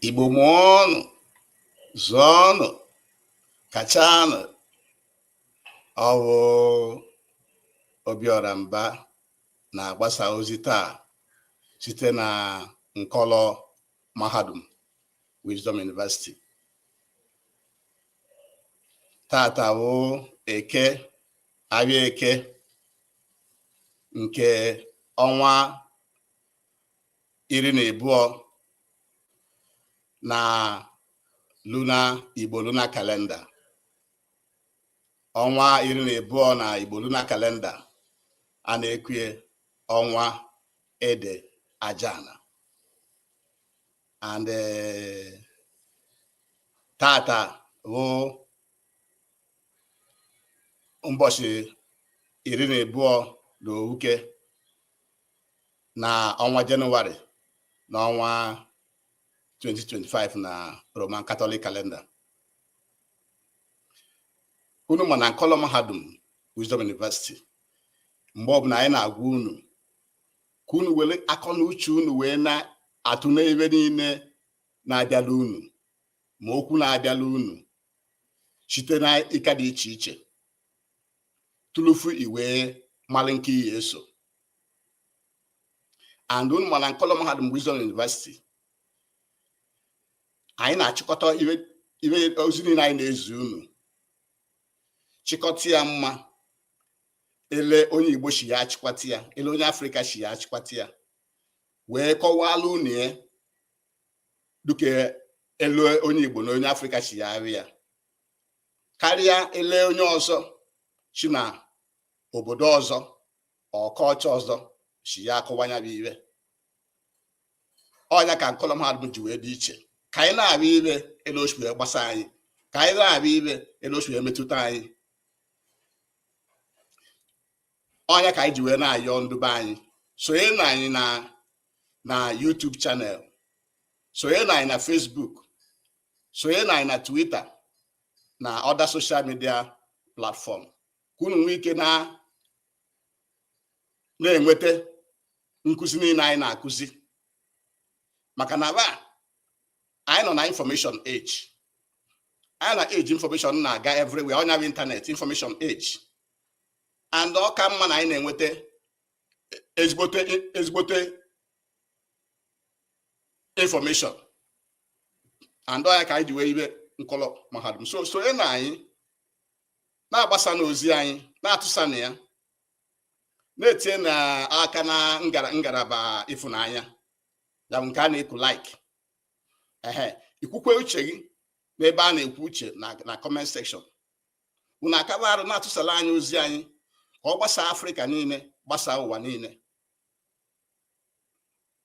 Igbo mụọnụ zụọnụ kachanụ ọ wụ Obiọra Mba na-agbasa ozi taa site na nkọlọ mahadum Wisdom University tata wụ eke ahịa eke nke ọnwa iri na abụọ na lunar Igbo lunar calendar ọnwa iri na abụọ na Igbo lunar calendar a na-ekwue ọnwa Ede Ajana and eh, tata wụ ụbọchị iri na abụọ na owuke na ọnwa Jenụwarị na ọnwa 2025 na Roman Catholic calendar unu ma na nkọlọ mahadum Wisdom University mgbe ọbụla anyị na-agwa unu ka unu were akọ na uche unu wee na-atụle iwe niile na-abịala unu ma okwu na-abịala unu site n'eka dị iche iche tụlụfu i wee malụ nke ị ya-eso and unu ma na nkọlọ mahadum Wisdom University anyị na-achịkọta iwe iwe ozi niile anyị na-ezi unu chịkọta ya ma ele onye Igbo shi ya achịkwata ya ele onye Afrịka shi ya achịkwata ya wee kọwala unu ya dụka ele onye Igbo na onye Afrịka shi ya ahụ ya karịa ele onye ọzọ shi na obodo ọzọ or culture ọzọ shi ya akọwa ya bụ iwe ọnya ka nkọlọ mahadum ji wee dị iche ka anyị na-abịa iwe ele o shi wee gbasa anyị ka anyị na-abịa iwe ele o shi wee metụta anyị ọnya ka anyị ji wee na-ayọ ndị be anyị sonye na anyị na na YouTube channel sonye na anyị na Facebook sonye na anyị na Twitter na other social media platform ka unu nwee ike na na-enweta nkụzi niile anyị na-akụzi maka na ba anyị nọ na information age anyị na age information na-aga everywhere ọnya bụ internet information age and ọ ka mma na anyị na-enweta ezigbote ezigbote information and ọ ya ka anyị ji wee ibe nkọlọ mahadum so sonyenụ anyị na-agbasanụ ozi anyị na-atụsanụ ya na-etinyenụ aka na ngalaba ịfụnanya ya bụ nke a na-eku like ehe i kwukwee uche gị n'ebe a na-ekwu uche na comment section unu akaba arụ na-atụsalụ anyị ozi anyị ka ọ gbasaa afrịka niile gbasaa ụwa niile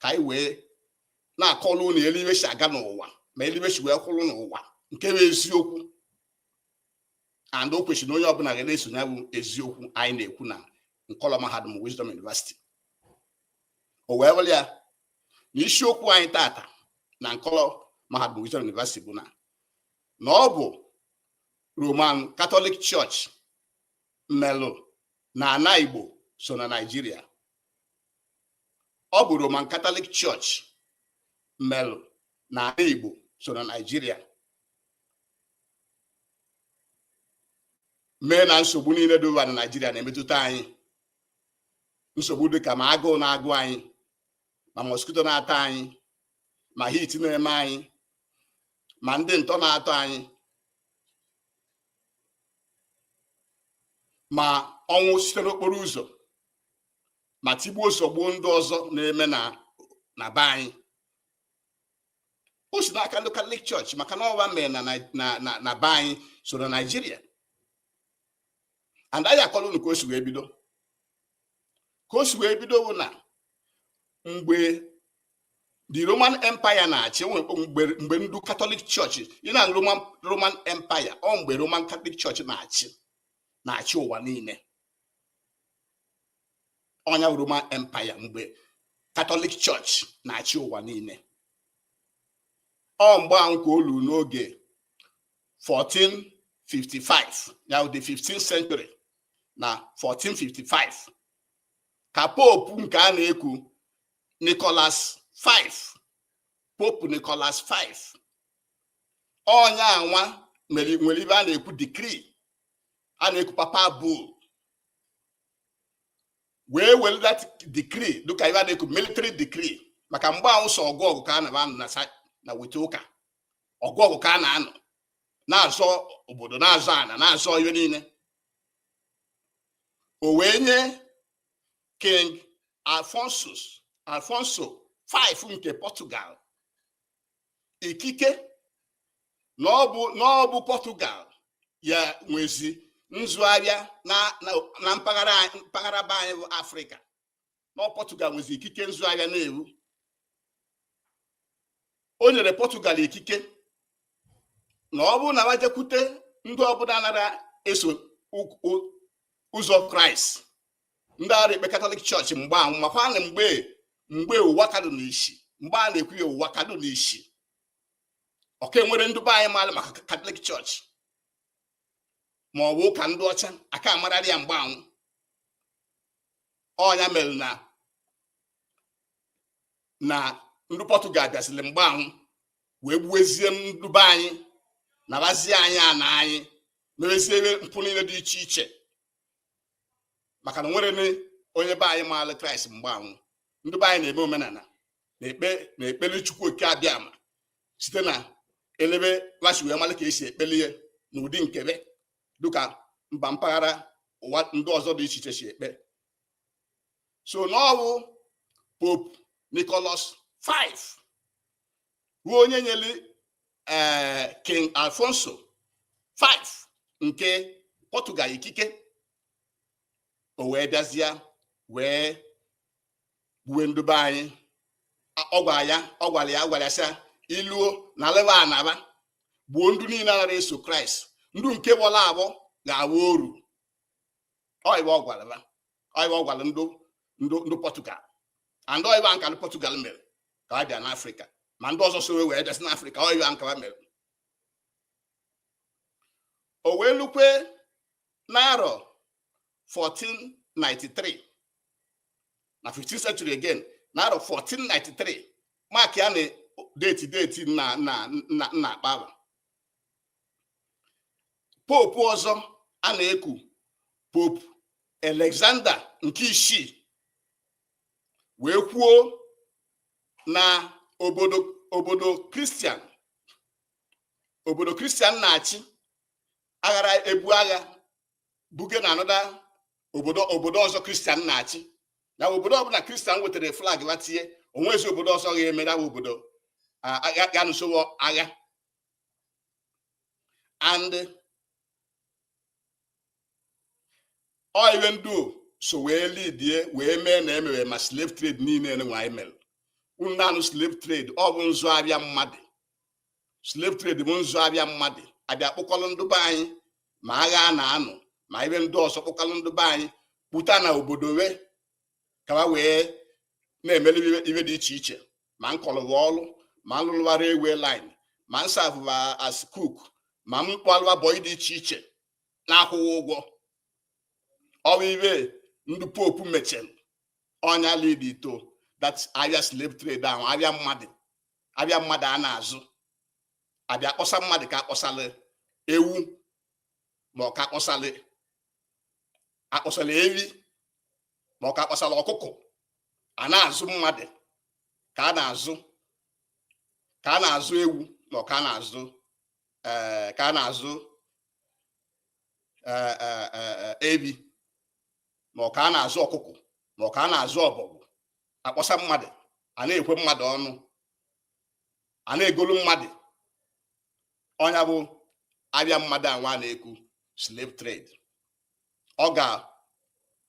ka anyị wee na-akọlụ unu etu ive si aga n'ụwa ma etu ive si wee kwụrụ n'ụwa nke bụ eziokwu and o kwesịrị na onye ọbụla ga na-esonye ya bụ eziokwu anyị na-ekwu na nkọlọ mahadum Wisdom University o wee bụrụ ya na isiokwu anyị tata na nkọlọ mahadum Wisdom University bụ na na ọ bụ Roman Catholic Church melụ na ana Igbo so na Naịjirịa ọ bụ Roman Catholic Church melụ na ana Igbo so na Naịjirịa mee na nsogbu niile dị ụwa na Naịjirịa na-emetụta anyị nsogbu dịka ma agụụ na-agụ anyị ma mosquito na-ata anyị ma heat na-eme anyị ma ndị ntọ na-atọ anyị ma ọnwụ site n'okporo ụzọ ma tigbuo zọgbuo ndị ọzọ na-eme na ana be anyị o si n'aka ndị catholic church maka na ọ va mere na Nai- na ana be anyị so na naijiria and anyị akọrọ unu ka o si wee bido ka o si wee bido bụ na mgbe the roman empire na-achị enwe mgbe mgbe ndị catholic church ị na roman roman empire ọ mgbe roman catholic church na-achị na-achị ụwa niile ọ nya Roman Empire mgbe Catholic Church na-achị ụwa niile ọ mgbe ahụ ka o lu n'oge 1455 ya bụ the 15th century na 1455 ka Pope nke a na-eku Nicholas V Pope Nicholas V onye anwa nwere ive a na-eku decree a na-eku papal bull wee were that decree dịka ive a na-eku military decree maka mgbe ahụ sọ ọgụ ọgụ ka a na-anụ na weta ụka ọgụ ọgụ ka a na-anụ na-azọ obodo na-azọ ana na-azọ ihe niile o wee nye king alfonsus alfonso 5 nke portugal ikike na ọ bụ Portugal ya-enwezi nzụ abịa na mpaghara be anyị bụ Afrịka na ọ bụ Portugal nwezi ikike nzụgharịa na-ewu o nyere Portugal ikike na ọ bụrụ na wa jekwute ndị ọbụla na-ara eso ụzọ Kraịst ndị ara ekpe Catholic Church mgbe anwụ makwa na mgbe ụwa ka dụ n'isi mgbe a na-ekwu ya ụwa ka dụ n'isi ọ ka enwere ndị be anyị maara maka Catholic Church ma ọ bụ ụka ndị ọcha a ka amararị ya mgbe anwụ ọ nya mere na ndị Portugal bịaziri mgbe anwụ wee gbuwezie ndị be anyị nabazie anyị ana anyị merezie mpụ niile dị iche iche maka na enwere onye be anyị maara kraịst mgbe anwụ ndị be anyị na-eme omenala na-ekpele chukwu oke abịama site na elebe wa si wee mara ka esi ekpele ya n'ụdị nke be dịka mba mpaghara ụwa ndị ọzọ dị iche iche si ekpe so na ọ wụ Pope Nicholas 5 bụ onye nyere eh, King Alfonso 5 nke Portugal ikike o wee bịazịa wee gbuwe ndụ be anyị ọ gwara ya gwara ya sị i luo nalụ ba ana ba gbuo ndụ niile na-ara eso kraịst ndụ nke bọla abọ ga-awụ oru ọ ibe ọ gwara ba ọ ibe ọ gwara ndụ Portugal and ọ ibe nka ndị Portugal mere ka ha bịa n'afrịka ma ndị ọzọ so wee bịazị n'afrịka ọ ibe nka ha mere o wee lukwe n'arọ 1493 na 15th century again n'arọ 1493 mark ya na date date m na-akpọ ahụ Pope ọzọ a na-eku Pope Alexander nke isii wee kwuo na obodo obodo kristian obodo kristian na-achị aghara ebu agha buge na another obodo ọzọ kristian na-achị na obodo ọbụla kristian wetara flag wa tinye o nwezi obodo ọzọ ga-eme ya obodo ga-anụso wo agha and ọ ibe ndị so wee lidie wee mee na emewe ma slave trade niile nwa anyị mere unu na-anụ slave trade ọ bụ nzụ abịa mmadụ slave trade bụ nzụ abịa mmadụ abịa kpụkọrọ ndụ be anyị ma agha a na-anụ ma ibe ndị ọzọ kpụkọrọ ndụ be anyị kpụta na obodo we ka ha wee na-emelu ive dị iche iche ma nkọlụ va ọrụ ma nlụlụ va railway line ma nsavụ va as cook ma mkpọlụ va bọyị dị iche iche na-akwụghị ụgwọ ọwa ive ndị pope mechiri ọ nya lead to that avịa slave trade ahụ avịa mmadụ avịa mmadụ a na-azụ a bịa akpọsa mmadụ ka a kpọsala ewu ma ọ ka a kpọsala a kpọsala ewi ma ọ ka a kpọsala ọkụkọ a na-azụ mmadụ ka a na-azụ ka a na-azụ ewu ma ọ ka a na-azụ eh, ka a na-azụ eh, eh, eh, eh, ewi ma ọ ka a na-azụ ọkụkọ ma ọ ka a na-azụ ọbọgwụ a kpọsa mmadụ a na-ekwe mmadụ ọnụ a na-egolu mmadụ ọ nya bụ avịa mmadụ anwa na-ekwu slave trade ọ ga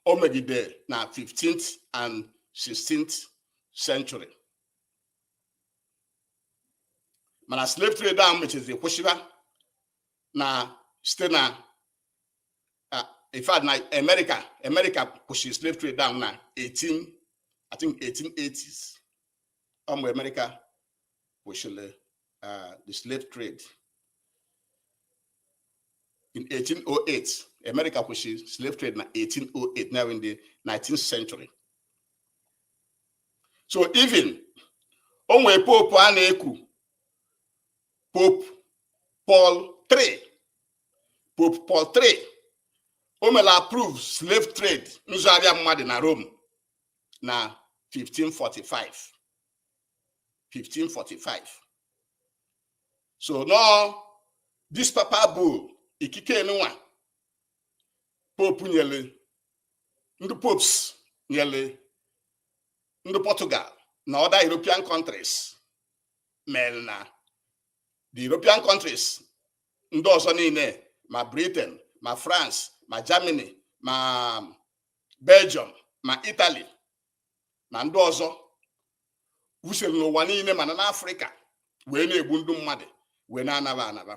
o megide na 15th and 16th century mana slave trade ahụ mechizi kwụsịba na site na in fact na America America kwụsịrị slave trade ahụ na 18 I think 1880s ọ mgbe America kwụsịrị uh, the slave trade in 1808 America kwụsịrị slave trade na 1808 now in the 19th century so even o nwere pope a na-ekwu pope Paul III pope Paul III o mere approve slave trade nzụ avịa mmadụ na Rome na 1545 1545 so na ọ this papal bull ikike nwa pope nyere ndị popes nyere ndị Portugal na other European countries mere na the European countries ndị ọzọ niile ma Britain ma France ma Germany ma Belgium ma Italy na ndị ọzọ wusere n'ụwa niile mana n'afrịka wee na-egbu ndị mmadụ wee na-ana va ana va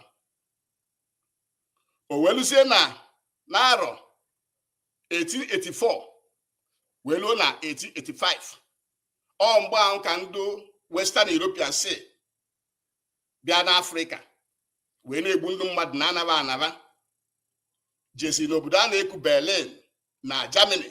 o wee luzie na n'arọ 1884 wee luo na 1885 ọ mgbe ahụ ka ndị western european si bịa n'afrịka wee na-egbu ndị mmadụ na-ana va ana va jezi n'obodo a na-eku berlin na germany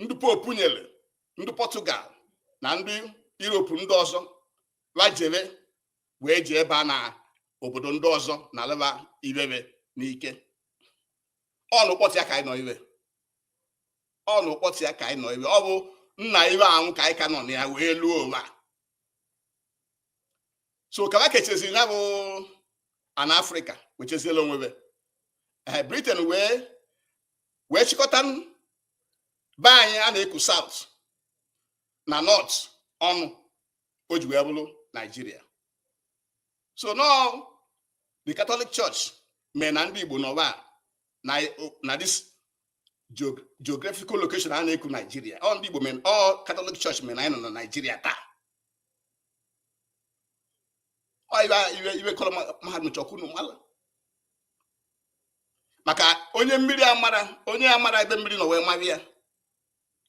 ndị pope nyere ndị portugal na ndị europe ndị ọzọ wa jere wee jeba na obodo ndị ọzọ nalịba ibe be n'ike ọ n'ụkpọtụ ya ka anyị nọ ibe ọ n'ụkpọtụ ya ka anyị nọ ibe ọ bụ na ibe ahụ ka anyị ka nọ na ya wee luo ụwa so ka ba kecheziri ya bụ ana afrịka wecheziela onwe be ee eh, britain wee wee chịkọta be anyị a na-eku south na north ọnụ o ji wee bụrụ naijiria so na ọ the catholic church mee na ndị igbo nọba na this geographical location a na-eku naijiria ọ ndị igbo mee ọ catholic church mee na anyị nọ na naijiria taa ọ ibe nkọlọ mahadum chọ ka unu mala maka onye mmiri amara onye amara ebe mmiri nọ wee maba ya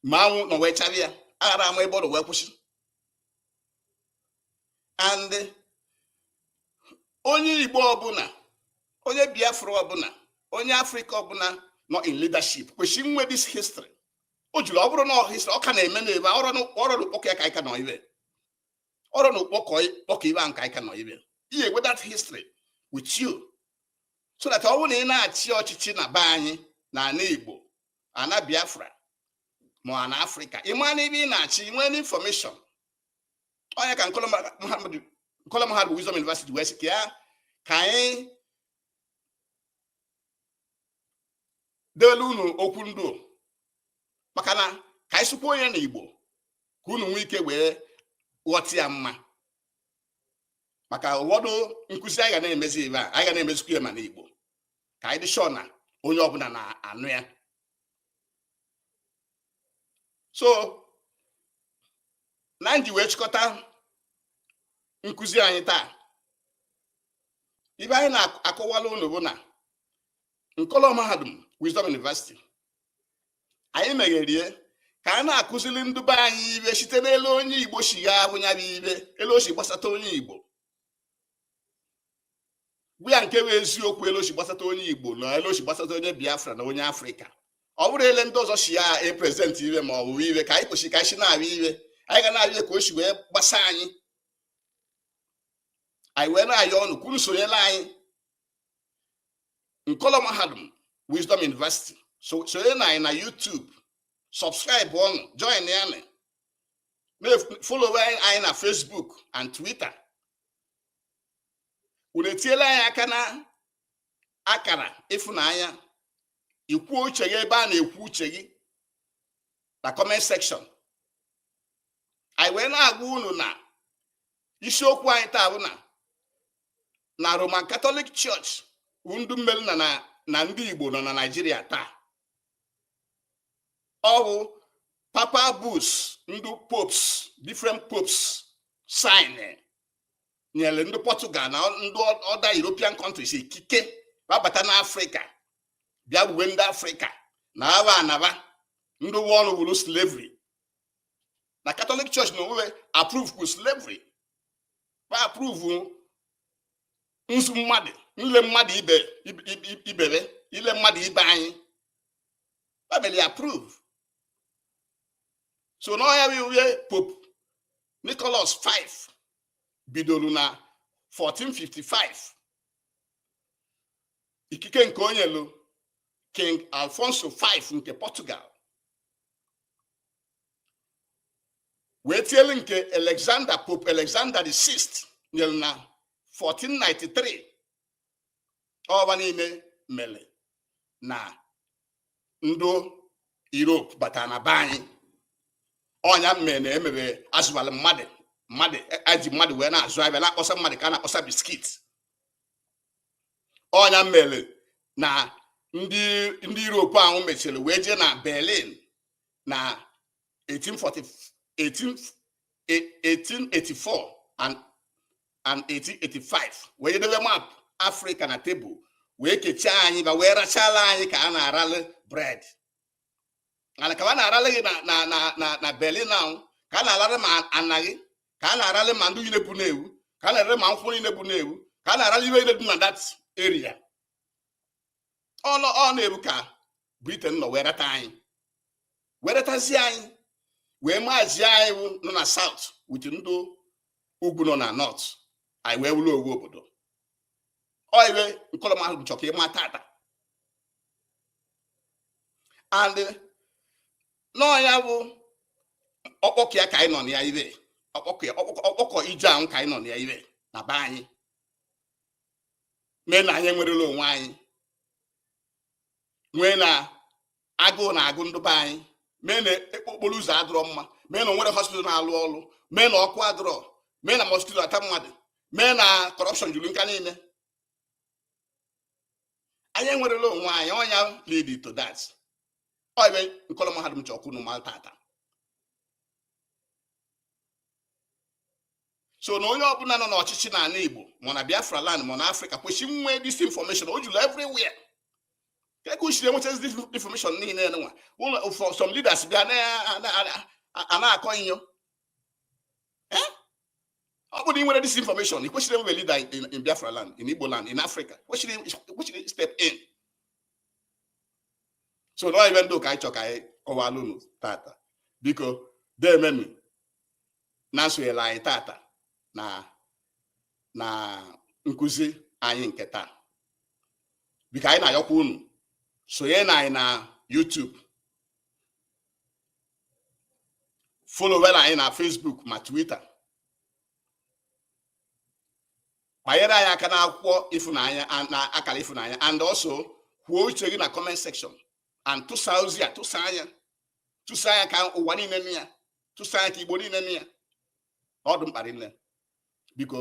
ma anwụ nọ wee chaba ya aghara ama ebe ọ nọ wee kwụsị and onye igbo ọbụla onye biafra ọbụla onye afrịka ọbụla nọ in leadership kwesịrị inwe this history o juru ọ bụrụ na history ọ ka na-eme na ebe ọrụ n'ụkpọkọ ya ka anyị ka nọ ibe ọrụ n'ụkpọkọ ibe ahụ ka anyị ka nọ ibe ị ya-enwe that history with you so that ọ bụrụ na ị na-achị ọchịchị na be anyị na ana Igbo ana Biafra ma ana Afrịka ị maa na ibe ị na-achị ị nwee information ọ nya ka Nkọlọ Mahadum bụ Wisdom University wee sị ka ya ka anyị deelu unu okwu ndụ maka na ka anyị sụkwuo nya na Igbo ka unu nwee ike wee ghọta ya mma maka ụfọdụ nkụzi anyị ga na-emezi ebe a anyị ga na-emezikwa ya ma n'Igbo ka anyị dị sure na onye ọbụla na-anụ ya so na n'iji wee chịkọta nkụzi anyị taa ibe anyị na-akọwala unu bụ na nkọlọ mahadum Wisdom University anyị megherie ka a na-akụziri ndị be anyị ibe site n'elu onye igbo si ya ahụ ya bụ ibe elu o si gbasata onye igbo bụ ya nke bụ eziokwu elu o si gbasata onye igbo na elu o si gbasata onye biafra na onye afrịka ọ bụrọ ele ndị ọzọ si ya epresent ibe ma ọ bụ ibe ka anyị kwesịrị ka anyị si na-abịa ibe anyị ga na-abịa ka o si wee gbasa anyị anyị wee na-ayọ unu ka unu sonyela anyị nkọlọ mahadum wisdom university sonye na anyị na youtube subscribe ọnụ join ya na follow anyị na facebook and twitter unu etiela anyị aka na akara ịfụnanya i kwuo uche gị ebe a na-ekwu uche gị na comment section anyị wee na-agwa unu na isiokwu anyị taa bụ na na Roman Catholic Church bụ ndị mere na na ndị Igbo nọ na Naịjirịa taa ọ bụ papal bulls ndị popes different popes sign nyere ndị Portugal na ndị other European countries ikike babata n'Afrịka bịa gbuwe ndị Afrịka na agba a na-agba ndị ụwa oru wuru slavery na catholic church nọ wee approve slavery ba approve nzụ mmadụ nle mmadụ ibe ile mmadụ ibe anyị ba weli approve so na ọ ya wụ iwe pope nicholas 5 bidoro na 1455 ikike nke o nyelu king alfonso 5 nke portugal wee tielu nke Alexander Pope Alexander the Sixth nyere na 1493 ọ ba niile mere na ndị Europe batara na be anyị ọ ya mere na e mebe azụwala mmadụ mmadụ eji mmadụ wee na-azụ afịa na-akpọsa mmadụ ka a na-akpọsa biscuit ọ ya mere na ndị Europe ahụ mechara wee jee na Berlin na 1884 and 1885 wee jee debe map Afrịka na tebụl wee kechaa anyị ba wee rachala anyị ka a na-aralị bread and ka a na-aralị gị na Berlin ahụ ka a na-aralị ma ana gị ka a na-arali ma ndị niile bu n'ebe ahụ ka a na-arali ma nkwụ niile bu n'ebe ahụ ka a na-arali iwe niile dị na that area ọlọ ọ n'ebe ahụ ka britain nọ wee rata anyị wee ratazie anyị wee mazie anyị nọ na south with ndị ugwu nọ na north anyị wee wụrụ ofu obodo ọ iwe nkọlọ mahadum chọrọ ka ị ma tata and na ọ ya bụ ọkpọkọ ya ka anyị nọ na ya iwe ọkpọkọ ya ọkpọkọ ọkpọkọ ije ahụ ka anyị nọ na ya iwe na be anyị mee na anyị enwerela onwe anyị nwee na agụụ na-agụ ndị be anyị mee na ekpo okporo ụzọ adịrọ mma mee na o nwerọ hospital na-alụ ọrụ mee na ọkụ adịrọ mee na mosquito ata mmadụ mee na corruption juru nga niile anyị enwerela onwe anyị ọ nya lead to that ọ ive nkọlọ mahadum chọ ka unu mara tata so na onye ọbụla nọ n'ọchịchị n'ala Igbo ma na Biafra land ma na Africa kwesịrị inwe this information o juru everywhere ka ekwesịrị enwetazi this information niile nwa ụlọ some leaders bịa na-akọ inyo eh? ọ bụrụ na ị nwere this information ị kwesịrị any leader in Biafra land in Igbo land in Africa kwesịrị step in so na ive ndị ahụ ka anyị chọ ka anyị kọwalụ unu tata biko demenu na nsonyela anyị tata na na nkụzi anyị nke taa biko anyị na-ayọkwa unu sonye na anyị na YouTube followela anyị na Facebook ma Twitter kpanyere anyị aka n'akwụkwọ ịfụnanya na akara ịfụnanya and also kwuo uche gị na comment section and tụsa ozi a tụsaa nya tụsaa nya ka ụwa niile nụ ya tụsaa nya ka Igbo niile nụ ya ọ dụ mkpa rinne biko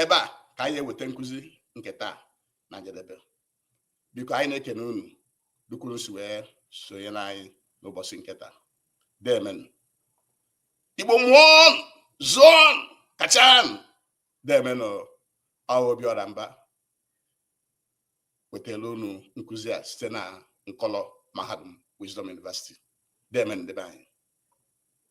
ebe a ka anyị eweta nkụzi nke taa na njedebe biko anyị na-ekene unu dụka unu si wee sonyela anyị n'ụbọchị nke taa demenu Igbo mụọnụ zụọnụ kachanụ demenu Obiọra Mba wetara unu nkụzi a site na nkọlọ mahadum Wisdom University demenu ndị be anyị